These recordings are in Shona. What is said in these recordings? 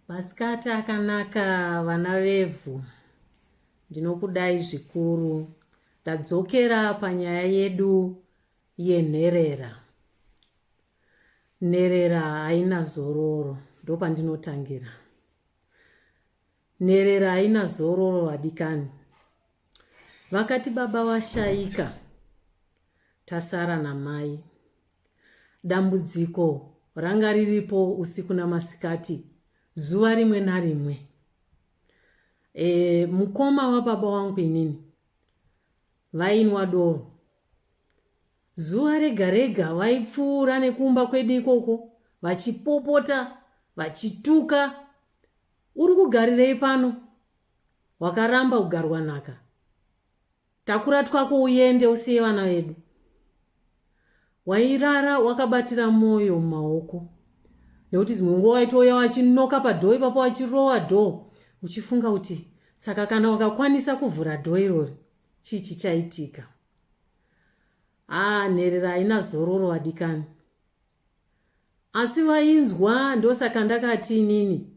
Masikati akanaka vana vevhu, ndinokudai zvikuru. Tadzokera panyaya yedu yenherera. Nherera haina zororo, ndopandinotangira. Nherera haina zororo vadikani. Vakati baba vashaika, tasara namai. Dambudziko ranga riripo usiku namasikati zuva rimwe narimwe. E, mukoma wababa wangu inini vainwa doro zuva rega rega vaipfuura nekumba kwedu ikoko vachipopota vachituka uri kugarirei pano wakaramba kugarwa nhaka Takura twako uyende usiye vana vedu. Wairara wakabatira moyo mumaoko nekuti dzimwe nguva waitouya wachinoka padhoo ipapo wachirowa dhoo uchifunga kuti saka kana wakakwanisa kuvhura dhoo irori chii chichaitika haa nherera haina zororo vadikani asi vainzwa ndosaka ndakati inini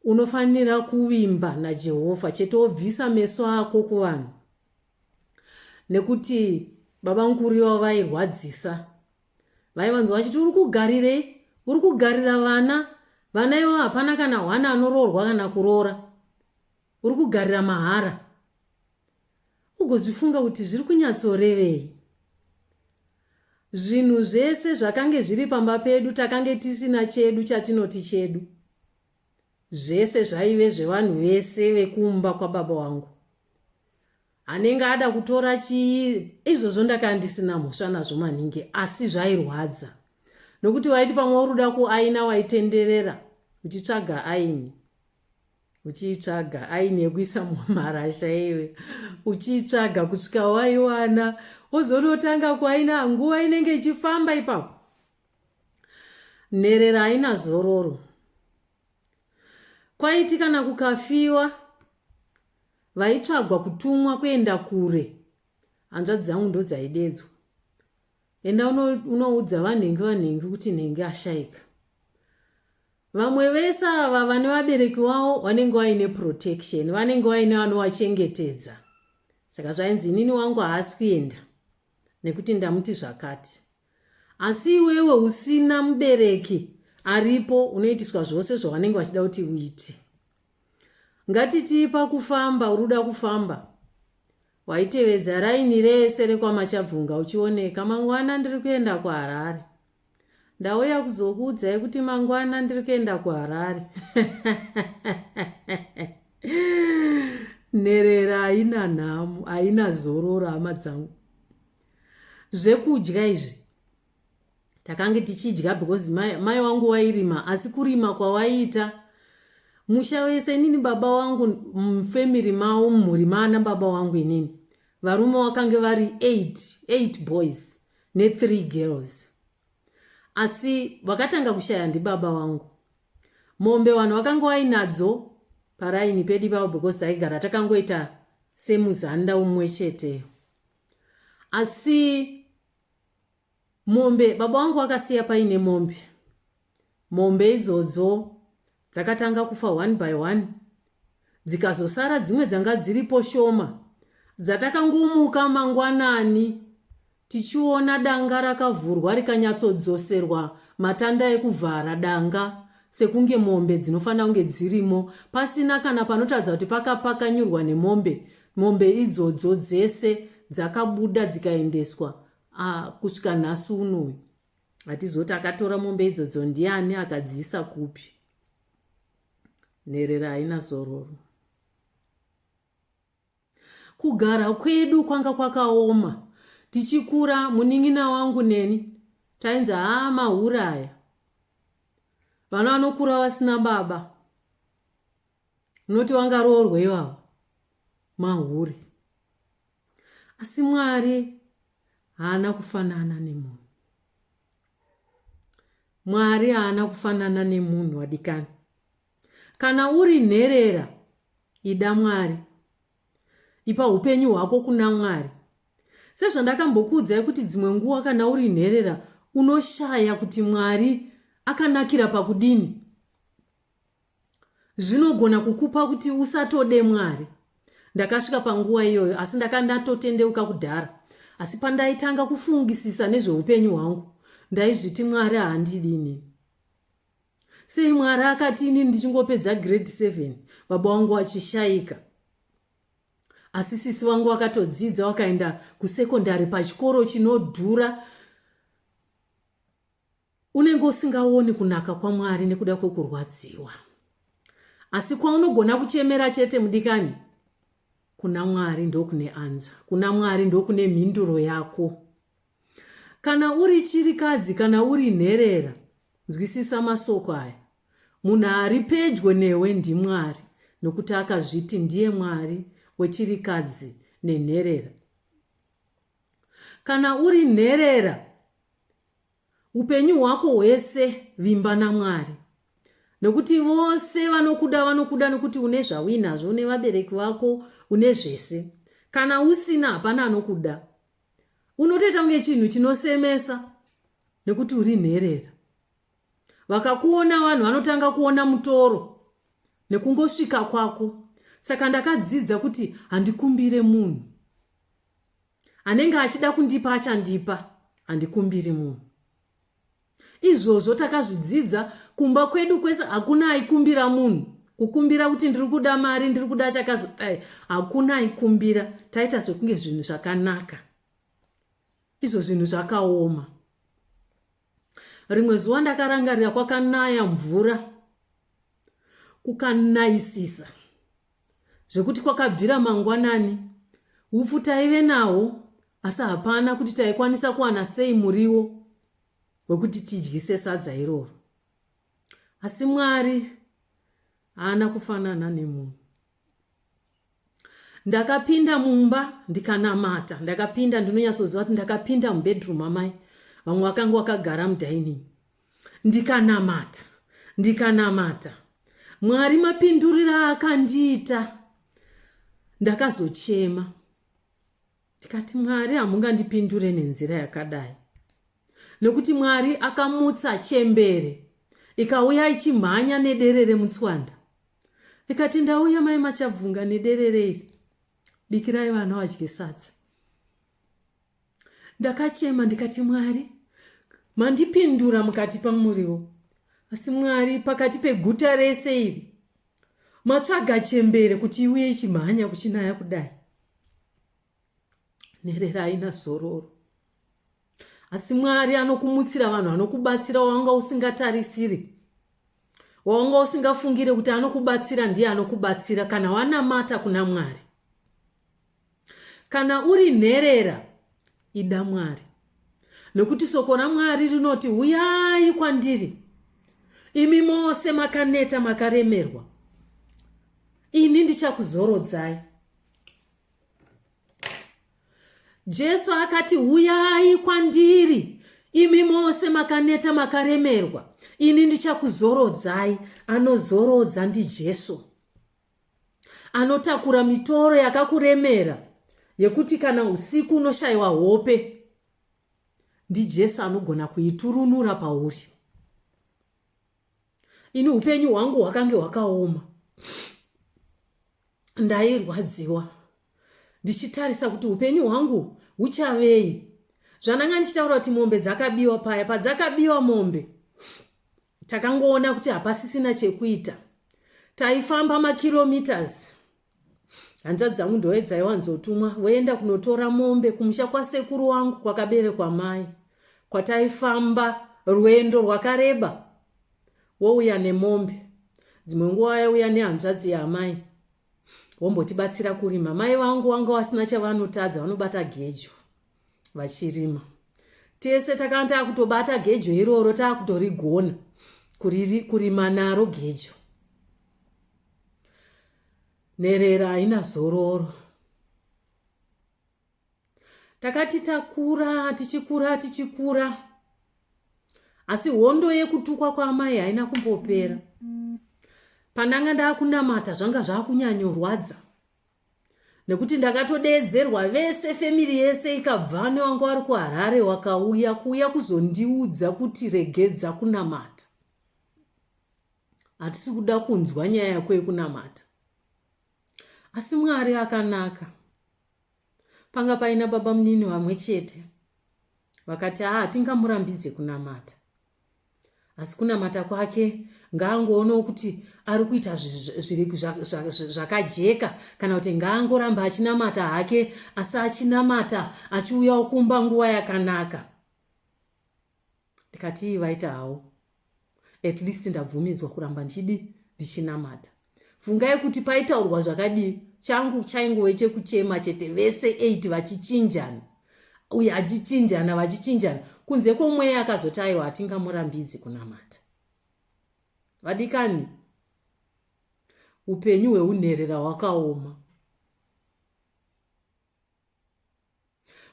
Unofanira kuvimba naJehovha chete wobvisa meso ako kuvanhu nekuti baba mukuru ivavo vairwadzisa. Vaivanzwa vachiti uri kugarirei? Uri kugarira vana. Vana ivo hapana kana hwana anoroorwa kana kuroora. Uri kugarira mahara. Ugozvifunga kuti zviri kunyatsorevei? Zvinhu zvese zvakange zviri pamba pedu takange tisina chedu chatinoti chedu. Zvese zvaive zvevanhu vese vekumba kwababa wangu. Anenge ada kutora chii? Izvozvo ndakanga ndisina mhosva nazvo maningi asi zvairwadza nokuti waiti pamwe uri kuda kuaina waitenderera uchitsvaga aini. uchiitsvaga aini yekuisa mumarasha iwe uchiitsvaga kusvika waiwana wozonotanga kwaina nguva inenge ichifamba ipapo nherera haina zororo kwaiti kana kukafiwa vaitsvagwa kutumwa kuenda kure hanzvadzi dzangu ndodzaidedzwa enda unoudza vanhengi vanhengi kuti nhengi ashaika vamwe vese ava vane vabereki wavo vanenge vaine protection vanenge vaine vanovachengetedza saka zvainzi inini wangu haasi kuenda nekuti ndamuti zvakati asi iwewe usina mubereki aripo unoitiswa zvose zvavanenge vachida kuti uite ngatitii pakufamba uri kuda kufamba Waitevedza raini rese rekwaMachabvunga uchioneka. Mangwana ndiri kuenda kuHarare. Ndauya kuzokuudzai kuti mangwana ndiri kuenda kuHarare. Nherera haina nhamo, haina zororo hama dzangu. Zvekudya izvi takange tichidya because mai, mai wangu wairima asi kurima kwawaiita musha wese inini baba wangu mufamily mavo mumhuri maana baba wangu inini varume wakange vari 8 8 boys ne3 girls asi vakatanga kushaya ndibaba wangu mombe vanhu vakanga vainadzo paraini pedu ipavo because taigara takangoita semuzanda umwe cheteyo asi Mombe baba vangu vakasiya paine mombe. Mombe idzodzo dzakatanga kufa one by one dzikazosara dzimwe dzanga dziripo shoma dzatakangomuka mangwanani tichiona danga rakavhurwa rikanyatsodzoserwa matanda ekuvhara danga sekunge mombe dzinofanira kunge dzirimo pasina kana panotadza kuti pakapakanyurwa nemombe Mombe idzodzo dzese dzakabuda dzikaendeswa ah, kusvika nhasi unoyu hatizoti akatora mombe idzodzo ndiani akadziisa kupi nherera haina zororo kugara kwedu kwanga kwakaoma tichikura munin'ina wangu neni tainzi haa mauraya vana vanokura vasina baba Munoti wangaroorwa ivavo mahure. Asi Mwari haana kufanana nemunhu. Mwari haana kufanana nemunhu wadikani. Kana uri nherera ida Mwari. Ipa upenyu hwako kuna Mwari. Sezvandakambokuudzai kuti dzimwe nguva kana uri nherera unoshaya kuti Mwari akanakira pakudini. zvinogona kukupa kuti usatode mwari ndakasvika panguva iyoyo asi ndaka ndatotendeuka kudhara asi pandaitanga kufungisisa nezveupenyu hwangu ndaizviti mwari haandidi inini sei mwari akati inini ndichingopedza grade 7 baba wangu vachishaika asi sisi vangu vakatodzidza vakaenda kusekondari pachikoro chinodhura Unenge usingaoni kunaka kwaMwari nekuda kwekurwadziwa. Asi kwaunogona kuchemera chete mudikani, kuna Mwari ndokune anza. Kuna Mwari ndokune mhinduro yako. Kana uri chirikadzi, kana uri nherera, nzwisisa masoko aya. Munhu ari pedyo newe ndiMwari, nokuti akazviti ndiye Mwari wechirikadzi nenherera. Kana uri nherera, Upenyu hwako hwese vimba naMwari nokuti vose vanokuda vanokuda nokuti une zvauinazvo une vabereki vako une zvese kana usina hapana anokuda unotoita kunge chinhu chinosemesa nokuti uri nherera vakakuona vanhu vanotanga kuona mutoro nekungosvika kwako saka ndakadzidza kuti handikumbire munhu Anenge achida kundipa achandipa handikumbiri munhu. Izvozvo takazvidzidza kumba kwedu kwese hakuna aikumbira munhu. Kukumbira kuti ndiri kuda mari ndiri kuda chakazi eh, hakuna aikumbira taita sekunge zvinhu zvakanaka. Izvo zvinhu zvakaoma. rimwe zuva ndakarangarira kwakanaya mvura kukanayisisa zvekuti kwakabvira mangwanani upfu taive nawo asi hapana kuti taikwanisa kuwana sei muriwo wekuti tidyise sadza iroro asi mwari haana kufanana nemunhu ndakapinda mumba ndikanamata ndakapinda ndinonyatsoziva kuti ndakapinda mubedroom amai vamwe vakanga wakagara mudining ndikanamata ndikanamata mwari mapindurira akandiita ndakazochema ndikati mwari hamungandipindure nenzira yakadai nekuti mwari akamutsa chembere ikauya ichimhanya nederere mutswanda ikati ndauya mai machabvunga nederere iri bikirai vana vadye sadza ndakachema ndikati mwari mandipindura mukati pamuriwo asi mwari pakati peguta rese iri Matsvaga chembere kuti iuye ichimhanya kuchinaya kudai. Nherera haina zororo. Asi Mwari anokumutsira vanhu anokubatsira wanga usingatarisiri. Wanga usingafungire kuti anokubatsira ndiye anokubatsira kana wanamata kuna Mwari. Kana uri nherera, ida Mwari, nokuti soko raMwari rinoti, Huyai kwandiri, imi mose makaneta makaremerwa, ini ndichakuzorodzai. Jesu akati, Huyai kwandiri, imi mose makaneta makaremerwa, ini ndichakuzorodzai. Anozorodza ndiJesu. anotakura mitoro yakakuremera yekuti kana usiku unoshaiwa hope ndijesu anogona kuiturunura pauri ini upenyu hwangu hwakange hwakaoma ndairwadziwa ndichitarisa kuti upenyu hwangu huchavei zvandanga ndichitaura kuti mombe dzakabiwa paya padzakabiwa mombe takangoona kuti hapasisina chekuita taifamba makilometers hanzvadzi dzangu ndove dzaiwanzotumwa voenda kunotora mombe kumusha kwasekuru wangu kwakaberekwa mai kwataifamba rwendo rwakareba wouya nemombe dzimwe nguva yauya nehanzvadzi yaamai wombotibatsira kurima mai vangu wanga wasina chavanotadza vanobata gejo vachirima tese takanga takutobata gejo iroro takutorigona kurima naro gejo nherera haina zororo takati takura tichikura tichikura asi hondo yekutukwa kwaamai haina kumbopera pandanga ndakunamata zvanga zvakunyanyorwadza nekuti ndakatodeedzerwa vese family yese ikabva newanga wari kuharare wakauya kuuya kuzondiudza kuti regedza kunamata hatisi kuda kunzwa nyaya yako yekunamata asi mwari akanaka panga paina baba munini vamwe chete vakati haa tingamurambidze kunamata asi kunamata kwake ngaangoonawo kuti ari kuita zvakajeka kana kuti ngaangoramba achinamata hake asi achinamata achiuyawo kumba nguva yakanaka ndikatii vaita hawo at least ndabvumidzwa kuramba ndichidi ndichinamata Fungai kuti paitaurwa zvakadii, changu chaingove chekuchema chete, vese eight vachichinjana, uye achichinjana vachichinjana, kunze kwomweya akazoti aiwa hatingamurambidzi kunamata. Vadikani, upenyu hweunherera hwakaoma.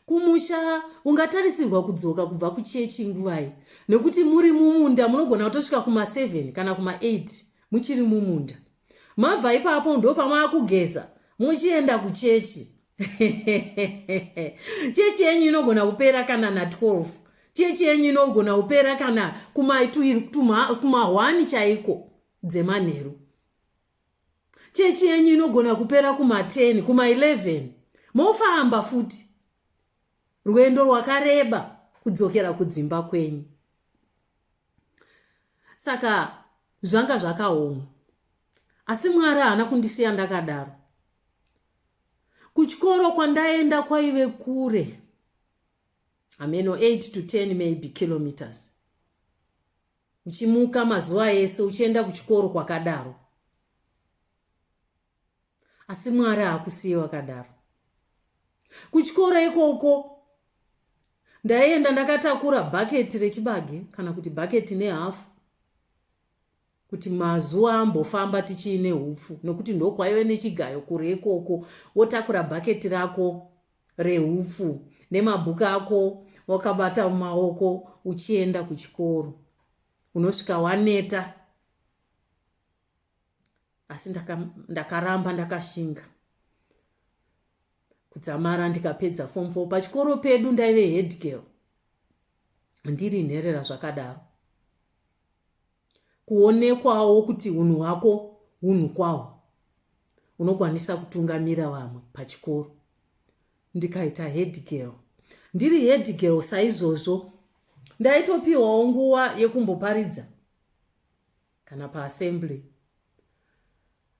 Kumusha ungatarisirwa kudzoka kubva kuchechi nguvai nekuti muri mumunda munogona kutosvika kuma7 kana kuma8 muchiri mumunda. Mabva ipapo ndopamaakugeza muchienda kuchechi. Chechi yenyu inogona kupera kana na 12. Chechi yenyu inogona kupera kana kuma1 chaiko dzemanheru. chechi yenyu inogona kupera kuma10 kuma11 mofamba futi rwendo rwakareba kudzokera kudzimba kwenyu saka zvanga zvakaoma asi mwari haana kundisiya ndakadaro kuchikoro kwandaenda kwaive kure hameno 8 to 10 maybe kilometers Uchimuka mazuva ese uchienda kuchikoro kwakadaro. Asi Mwari haakusiye wakadaro. Kuchikoro ikoko ndaienda ndakatakura bhaketi rechibage kana kuti bhaketi nehafu kuti mazuva ambofamba tichiine hupfu nokuti ndokwaive nechigayo kure ikoko wotakura bhaketi rako rehupfu nemabhuku ako wakabata mumaoko uchienda kuchikoro unosvika waneta asi ndakaramba ndakashinga kudzamara ndikapedza form four pachikoro pedu ndaive head girl ndiri nherera zvakadaro kuonekwawo kuti hunhu hwako hunhu kwahwo unokwanisa kutungamira vamwe pachikoro ndikaita headgirl ndiri headgirl saizvozvo ndaitopiwawo nguva yekumboparidza kana paassembly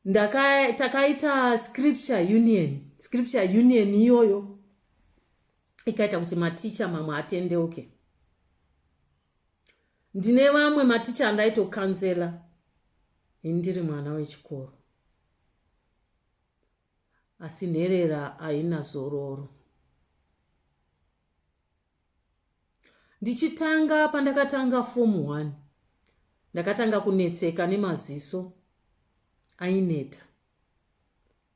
ndaka takaita scripture union scripture union iyoyo ikaita kuti maticha mamwe atendeuke okay. Ndine vamwe maticha andaito counselor ini ndiri mwana wechikoro asi nherera haina zororo. Ndichitanga pandakatanga form one ndakatanga kunetseka nemaziso aineta.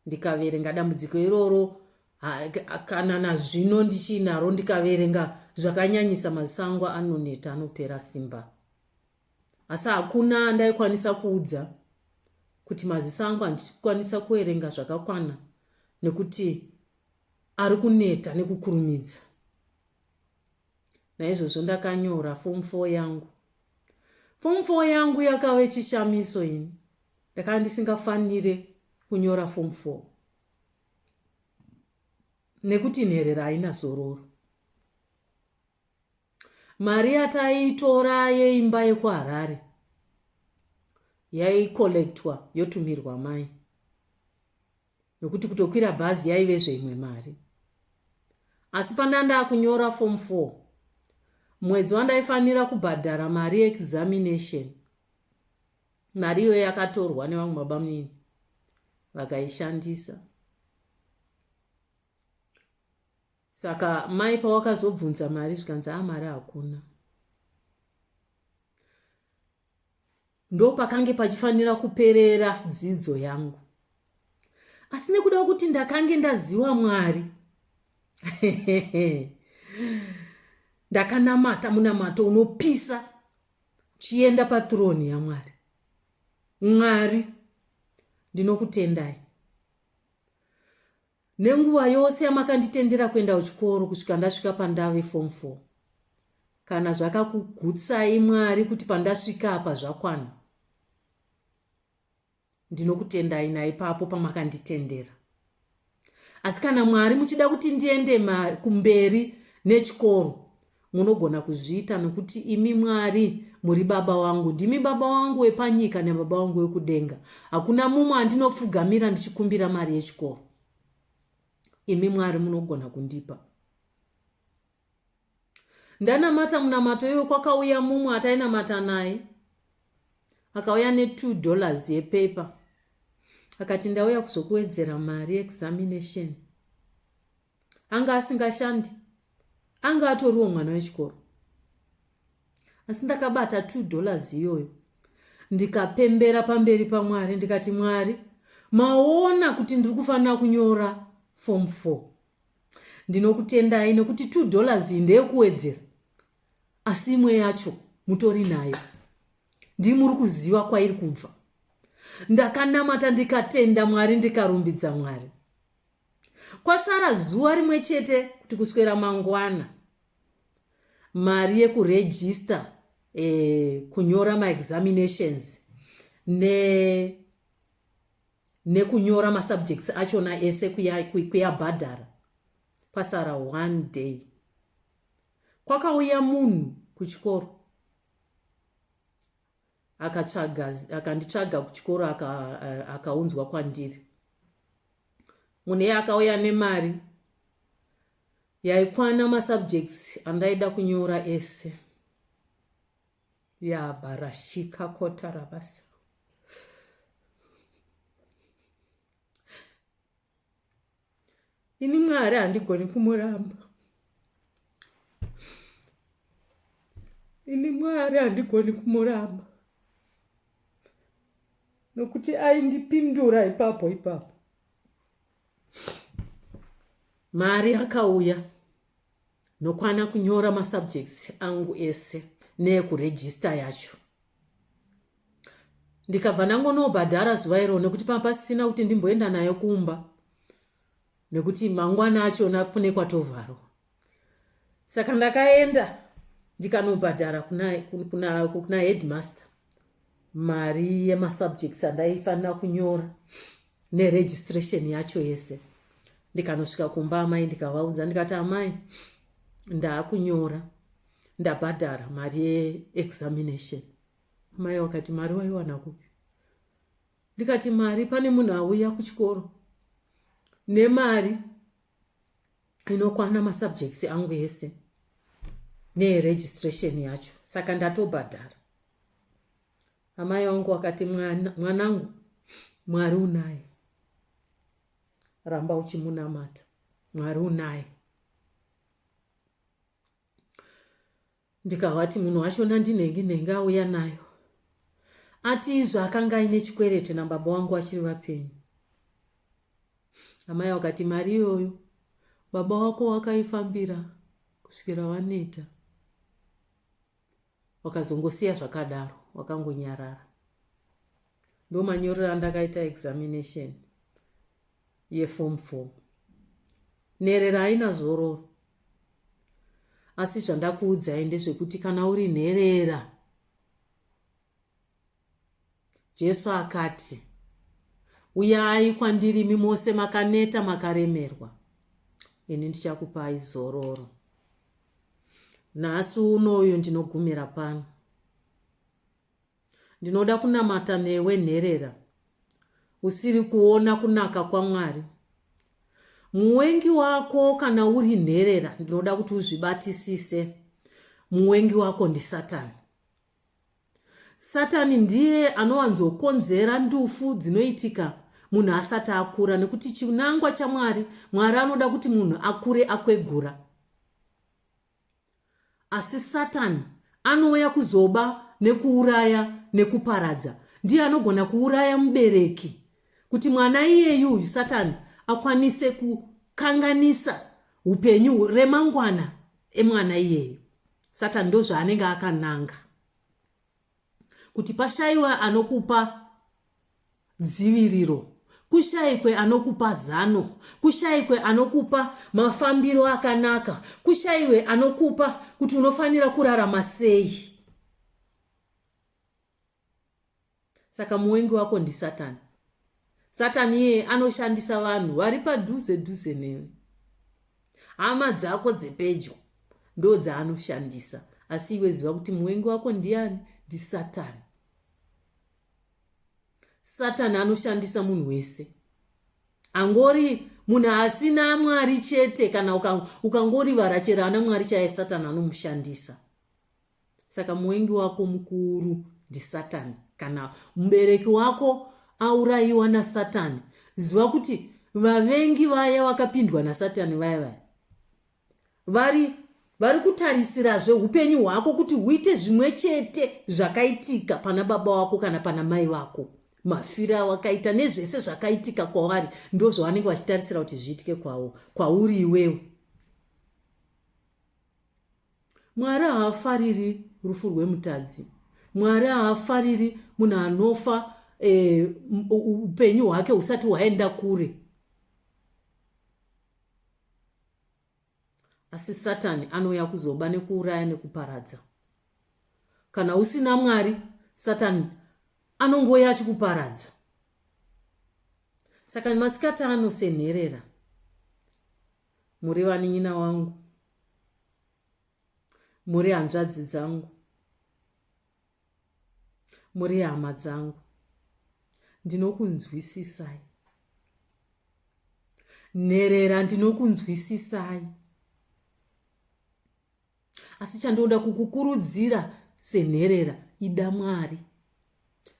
ndikaverenga dambudziko iroro kana nazvino ndichinaro ndikaverenga zvakanyanyisa maziso angu anoneta anopera simba asi hakuna ndaikwanisa kuudza kuti maziso angu handikwanisa kuverenga zvakakwana nekuti ari kuneta nekukurumidza naizvozvo ndakanyora fomu fo yangu fomu fo yangu yakave chishamiso ini ndakanga ndisingafanire kunyora form four nekuti nherera haina zororo mari yataitora yeimba yekuharare yaikollectwa yotumirwa mai nokuti kutokwira bhazi yaive zveimwe mari asi pandandaa kunyora form four mwedzi wandaifanira kubhadhara mari yeexamination Mari iyoyo yakatorwa nevamwe babamunini vakaishandisa. Saka mai pawakazobvunza mari zvikanzi a ah, mari hakuna. Ndopakange pachifanira kuperera dzidzo yangu. Asi nekuda kuti ndakange ndaziwa Mwari. Ndakanamata munamato unopisa Chienda pathrone yaMwari. Mwari ndinokutendai nenguva yose yamakanditendera kuenda kuchikoro kusvika ndasvika pandave form four. Kana zvakakugutsai Mwari kuti pandasvika apa zvakwana, Ndinokutendai naipapo pamakanditendera. Asi kana Mwari muchida kuti ndiende kumberi nechikoro, munogona kuzviita nokuti imi Mwari muri baba wangu. Ndimi baba wangu wepanyika nebaba wangu wekudenga. Hakuna mumwe andinopfugamira ndichikumbira mari yechikoro. Imi Mwari munogona kundipa. ndanamata munamato iwe kwakauya mumwe atainamata naye akauya ne2 dollars yepaper akati ndauya kuzokuwedzera mari examination anga asingashandi anga atoriwo mwana wechikoro asi ndakabata 2 dollars iyoyo ndikapembera pamberi pamwari ndikati mwari maona kuti ndiri kufanira kunyora form 4 Ndinokutendai nokuti two dollars iyi ndeyekuwedzera asi imwe yacho mutori nayo ndii muri kuziva kwairi kubva ndakanamata ndikatenda mwari ndikarumbidza mwari kwasara zuva rimwe chete kuti kuswera mangwana mari yekurejista eh, kunyora maexaminations ne nekunyora masubjects achona ese kuyabhadhara kwasara one day kwakauya munhu kuchikoro akatsvaga akanditsvaga kuchikoro akaunzwa aka kwandiri munhu iye akauya nemari yaikwana masubjects andaida kunyora ese Yabva rasvika kota rabasa. Ini Mwari handigoni kumuramba. Ini Mwari handigoni kumuramba. Nokuti aindipindura ipapo ipapo. Mari yakauya. Nokwana kunyora masubjects angu ese neekuregister yacho ndikabva ndangonobhadhara zuva iro nekuti panga pasisina kuti ndimboenda nayo kumba nekuti mangwana achona kune kwatovharwa saka ndakaenda ndikanobhadhara kuna, kuna, kuna headmaster mari yemasubjects andaifanira kunyora neregistration yacho yese ndikanosvika kumba amai ndikavaudza ndikati amai ndaakunyora ndabhadhara mari yeexamination amai wakati mari waiwana kupi ndikati mari pane munhu auya kuchikoro nemari inokwana masubjects angu ese neregistration yacho saka ndatobhadhara amai vangu vakati mwanangu mwari unaye ramba uchimunamata mwari unaye Ndikavati munhu wacho nandinhengi nhengi auya nayo ati izvo akanga aine chikwerete nababa wangu vachiri vapenyu. Amai vakati mari iyoyo baba wako wakaifambira kusvikira vaneta. Wakazongosiya zvakadaro wakangonyarara. ndomanyorero andakaita examination yeform four nherera haina zororo asi zvandakuudzai ndezvekuti kana uri nherera jesu akati uyai kwandiri imi mose makaneta makaremerwa ini ndichakupai zororo nhasi uno uyu ndinogumira pano Ndinoda kunamata newe nherera usiri kuona kunaka kwaMwari. Muwengi wako kana uri nherera ndinoda kuti uzvibatisise. Muwengi wako ndiSatani. Satani ndiye anowanzokonzera ndufu dzinoitika munhu asati akura nekuti chinangwa chaMwari, Mwari anoda kuti munhu akure akwegura. Asi Satani anouya kuzoba nekuuraya nekuparadza. Ndiye anogona kuuraya mubereki kuti mwana iyeyu uyu Satani akwanise kukanganisa upenyu remangwana emwana iyeyu. Satani ndozvaanenge akananga. Kuti pashaiwe anokupa dziviriro, kushaikwe anokupa zano, kushaikwe anokupa mafambiro akanaka, kushaiwe anokupa kuti unofanira kurarama sei. Saka muwengi wako ndisatani. Satani iyeye anoshandisa vanhu vari padhuze dhuze newe. Hama dzako dzepedyo ndo dzaanoshandisa. Asi iwe ziva kuti muvengi wako ndiani? NdiSatani. Satani anoshandisa munhu wese. Angori munhu asina Mwari chete kana ukangorivara chero ana Mwari chaye Satani anomushandisa. Saka muvengi wako mukuru ndiSatani. Kana mubereki wako aurayiwa naSatani, ziva kuti vavengi vaya vakapindwa naSatani vaya vaya vari vari kutarisirazve upenyu hwako kuti huite zvimwe chete zvakaitika pana baba wako kana pana mai vako mafira wakaita nezvese zvakaitika kwavari ndozvavanenge vachitarisira kuti zviitike kwavo kwauri iwewe Mwari haafariri rufu rwemutadzi. Mwari haafariri munhu anofa eh, upenyu hwake husati hwaenda kure. Asi Satani anouya kuzoba nekuuraya nekuparadza. Kana usina Mwari, Satani anongouya achikuparadza. Saka masikati ano senherera Muri vanin'ina wangu. Muri hanzvadzi dzangu. Muri hama dzangu. Ndinokunzwisisai. Nherera ndinokunzwisisai. asi chandinoda kukukurudzira senherera ida mwari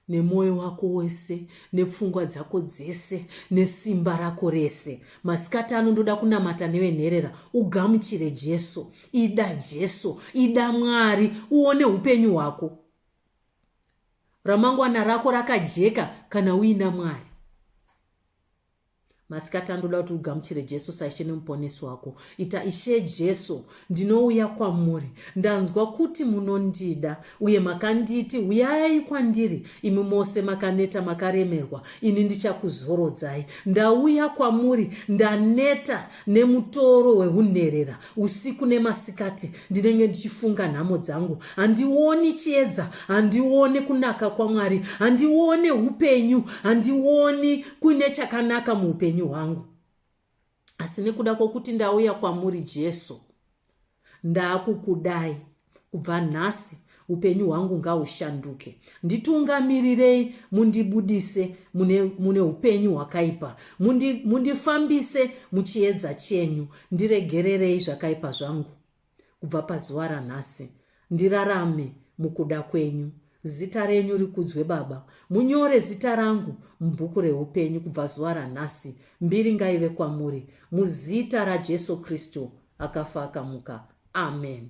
nemwoyo wako wese nepfungwa dzako dzese nesimba rako rese masikati ano ndoda kunamata nevenherera ugamuchire jesu ida jesu ida mwari uone upenyu hwako ramangwana rako rakajeka kana uina mwari Masikati ano ndoda kuti ugamuchire Jesu saIshe neMuponesi wako. Ita, Ishe Jesu, ndinouya kwamuri. Ndanzwa kuti munondida uye makanditi, Uyai kwandiri, imi mose makaneta makaremerwa, ini ndichakuzorodzai. Ndauya kwamuri, ndaneta, nemutoro wehunherera usiku nemasikati ndinenge ndichifunga nhamo dzangu handioni chiedza handione kunaka kwamwari handione upenyu handioni kuine chakanaka muupenyu hwangu asi nekuda kwokuti ndauya kwamuri jesu Ndakukudai kubva nhasi upenyu hwangu ngahushanduke nditungamirirei mundibudise mune, mune upenyu hwakaipa mundi, mundifambise muchiedza chenyu ndiregererei zvakaipa zvangu kubva pazuva ranhasi ndirarame mukuda kwenyu Zita renyu rikudzwe Baba. Munyore zita rangu mubhuku rehupenyu kubva zuva ranhasi. Mbiri ngaive kwamuri. Muzita raJesu Kristu akafa akamuka. Amen.